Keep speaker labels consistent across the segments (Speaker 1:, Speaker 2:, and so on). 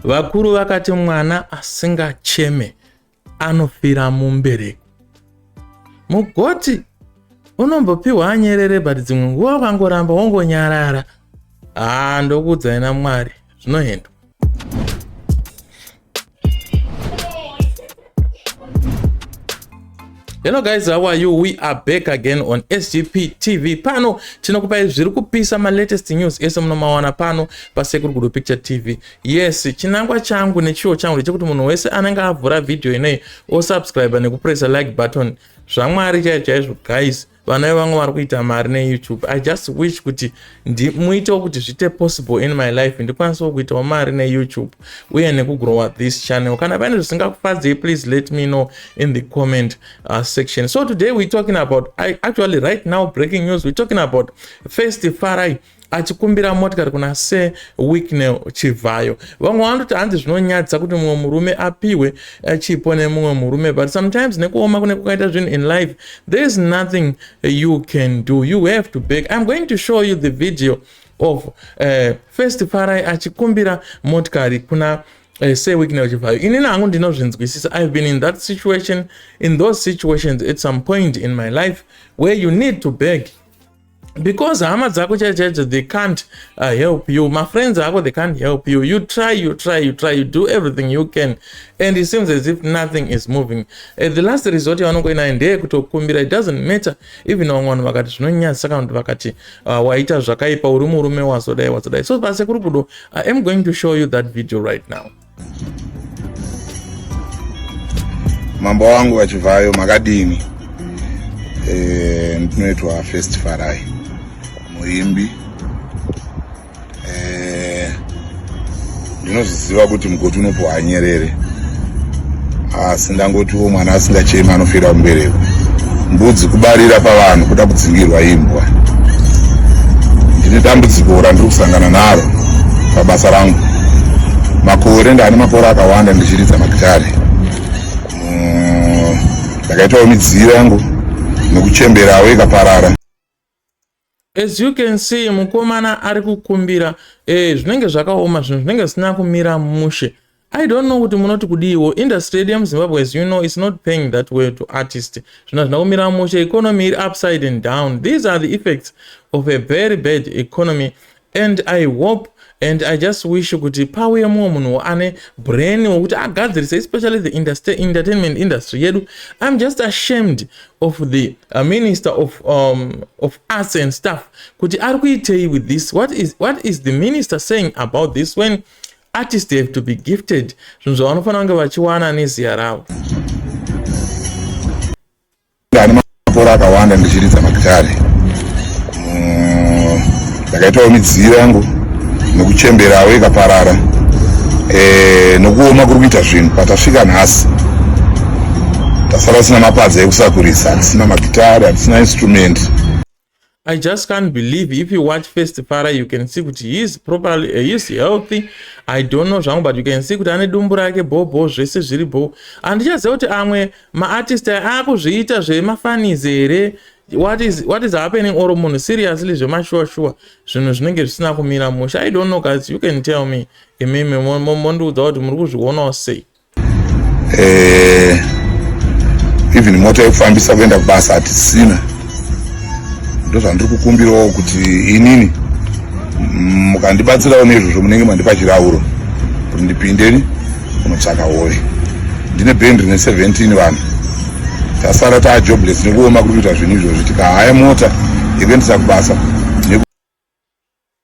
Speaker 1: Vakuru vakati mwana asingacheme anofira mumbereko. Mugoti unombopiwa anyerere but dzimwe nguva ukangoramba wongonyarara. Haa ndokuudzai naMwari zvinoendwa. hello guys how are you we are back again on sgp tv pano tinokupai zviri kupisa malatest news ese munomawana pano pasekuru gudo picture tv yes chinangwa changu nechiwo changu ndechekuti munhu wese anenge avhura vhidhiyo inei osubscribe nekupressa like button zvamwari chaicho chaizvo guys vana vevamwe vari kuita mari neyoutube i just wish kuti muitewo kuti zviite possible in my life ndikwanisewo kuitawo mari neyoutube uye nekugrowa this channel kana pane zvisingakufadzei please let me know in the comment uh, section so today we're talking about I, actually right now breaking news we're talking about first farai achikumbira motikari kuna se wicknel chivhayo vamwe vanototi hanzi zvinonyadzisa kuti mumwe murume apiwe eh, chipo nemumwe murume but sometimes nekuoma kune kukaita zvinhu in life there is nothing you can do you have to beg iam going to show you the video of uh, first farai achikumbira motikari kuna uh, se wicknel chivhayo inini hangu ndinozvinzwisisa ihave been in that situation in those situations at some point in my life where you need to beg because hama dzako chaicho chaicho they can't uh, help you mafriends ako they can't help you you try you try you try you do everything you can and it seems as if nothing is moving uh, the last resort yavanongoinayo ndeye kutokumbira it doesn't matter even vamwe vanhu vakati zvinonyadzisa kana kuti vakati uh, waita zvakaipa uri murume wazodai wazodai so pase kuri kudo i am going to show you that video right now
Speaker 2: Mambo wangu vachivhayo makadini? Eh, ndinoitwa First Farai muimbi eh, ndinozviziva kuti mugoti unopuwa nyerere asi ndangotiwo mwana asingachemi anofira kumbereko mbudzi kubarira pavanhu kuda kudzingirwa imbwa ndine dambudziko randiri kusangana naro pabasa rangu makore ndane makore akawanda ndichiridza magitare mm, ndakaitawo midziyo yangu nekuchemberawo ikaparara
Speaker 1: As you can see mukomana ari kukumbira eh, zvinenge zvakaoma zvinhu zvinenge zvisina kumira mushe. I don't know kuti munoti kudiiwo industry yedu yemuzimbabwe as you know is not paying that way to artist zvino zvina kumira mushe economy iri upside and down these are the effects of a very bad economy and i hope and i just wish kuti pauye mumwe munhu ane brain wekuti agadzirise especially the industry, entertainment industry yedu i'm just ashamed of the uh, minister of, um, of arts and stuff kuti ari kuitei with this what is, what is the minister saying about this when artist have to be gifted zvinhu zvavanofanira kunge vachiwana neziya ravo
Speaker 2: Ndane makore akawanda ndichiridza magitare. Mm, ndakaitawo midziyo yangu nekuchemberawo ikaparara eh, nokuoma kuri kuita zvinhu patasvika nhasi tasara tisina mapadza ekusakurisa hatisina magitare hatisina instrument I
Speaker 1: just can't believe if you watch first Farah you can see kuti he is properly uh, he is healthy I don't know zvangu but you can see kuti ane dumbu rake bhobho zvese zviri bho handichaziva kuti amwe maartist akuzviita zvemafanizi here what is, what is happening or munhu seriously zvemashuwa shuwa zvinhu zvinenge zvisina kumira musha I don't know guys you can tell me imimi mondiudza kuti muri kuzvionawo sei eh,
Speaker 2: even mota yekufambisa kuenda kubasa hatisina ndozvandiri kukumbirawo kuti inini mukandibatsirawo nezvozvo munenge mandipa chirauro kuti ndipindeni unotsvaka hove ndine band rine 17 vanhu tasara taa jobless nekuoma kuri kuita zvinhu izvozvi tikahaya mota yekuendesa kubasa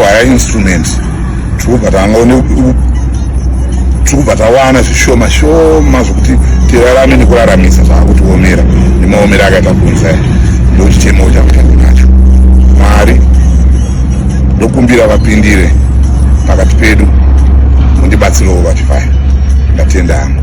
Speaker 2: Kuhaya instrument tikubva tangone tikubva tawana zvishoma shoma zvokuti tirarame nekuraramisa zvaakutiomera nemaomero akaita kunza ndochitemo chakutanga nacho mwari ndokumbira vapindire pakati pedu mundibatsirewo vachifaya ndatenda hangu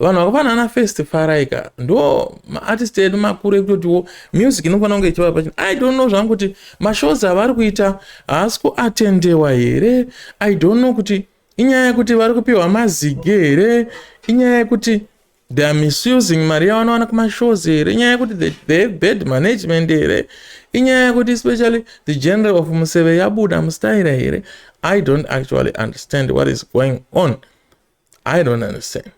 Speaker 1: vanhu vakafanana first farai ka ndo maartist edu makuru ekutotiwo music inofanira kunge ichivapa chino i don't know zvangu kuti mashows avari kuita haasi kuatendewa here i don't know kuti inyaya yekuti vari kupiwa mazigi here inyaya yekuti they are misusing mari yavanowana kumashows here inyaya yekuti they have bad management here inyaya yekuti especially the general of museve yabuda mustaira here i don't actually understand what is going on I don't understand.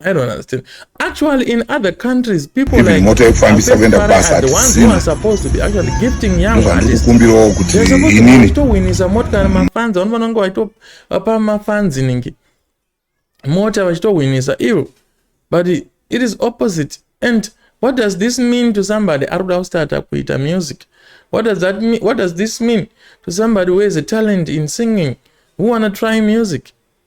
Speaker 1: I don't understand. Actually, in other countries, people Even like motor ekufambisa kuenda kubasa hatisina. supposed to be actually gifting young artists. Kumbirawo kuti inini towinnisa mota kana mafanzi vanhu vanenge vachitopapa mafanzi ningi mota vachitowinnisa ivo but it is opposite and what does this mean to somebody ari kuda kustarta kuita music what does that mean what does this mean to somebody who has a talent in singing who wanna try music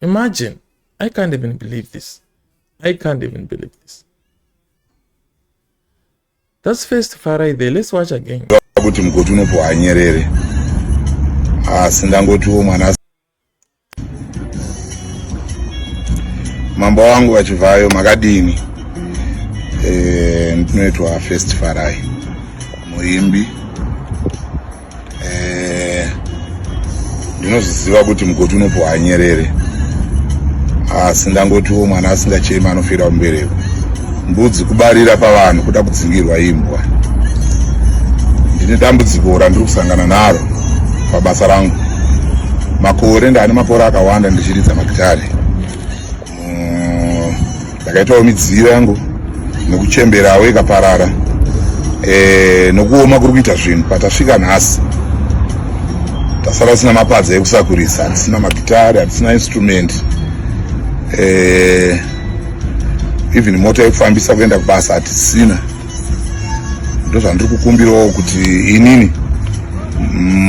Speaker 1: imagine i can't even believe this i can't even believe this that's first farai there let's watch again kuti mugoti unopuwa
Speaker 2: anyerere asi ndangotiwo mwana mambo wangu vachivhayo makadini eh, ndinoitwa first farai muimbi eh, ndinozviziva kuti mugoti unopuhwa nyerere asi ndangotiwo mwana asingachema anofira kumbereko mbudzi kubarira pavanhu kuda kudzingirwa imbwa ndine dambudziko randiri kusangana naro pabasa rangu makore ndane makore akawanda ndichiridza magitare mm, ndakaitawo midziyo yangu nekuchemberawo ikaparara e, nokuoma kuri kuita zvinhu patasvika nhasi tasara tisina mapadza ekusakurisa hatisina magitari hatisina instrument e, even mota yekufambisa kuenda kubasa hatisina ndozvandiri kukumbirawo kuti inini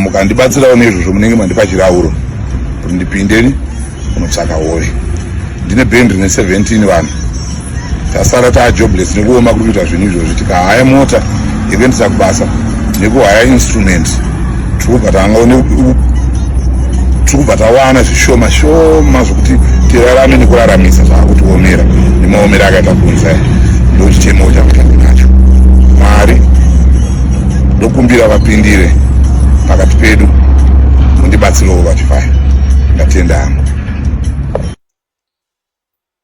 Speaker 2: mukandibatsirawo nezvozvo munenge mandipa chirauro kuti ndipindeni kunotsvaka hove ndine band rine 17 vanhu tasara taa jobless nekuoma kuri kuita zvinhu izvozvi tikahaya mota yekuendesa kubasa nekuhaya instrument True but anga une tikubva tawana zvishoma shoma zvokuti tirarame nekuraramisa zvaakutiomera nemaomero akaita kunza ndochitemo chakutanga nacho mwari ndokumbira vapindire pakati pedu mundibatsirewo vachifaya ndatenda hangu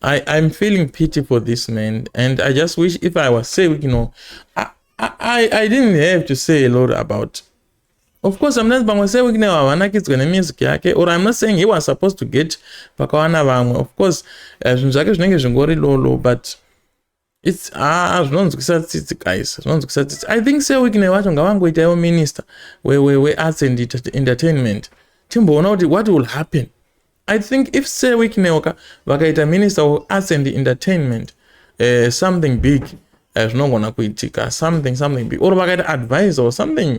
Speaker 1: I, I'm feeling pity for this man, and I just wish if I was saved, you know, I, I, I didn't have to say a lot about. Of course, I'm not pamwe saved now, havana kidzwa nemusic yake, or I'm not saying he was supposed to get pakawana vamwe. Of course, eh, zvinhu zvake zvinenge zvingori lolo, but It's ah zvinonzwisa tsitsi guys, zvinonzwisa tsitsi. I think Sir Wickney wacho ngavangoita iwo minister we we we arts and entertainment. Timboona kuti what will happen. I think if Sir Wickney waka vakaita minister of arts and entertainment uh, something big eh, zvinogona uh, kuitika something something big or vakaita advisor or something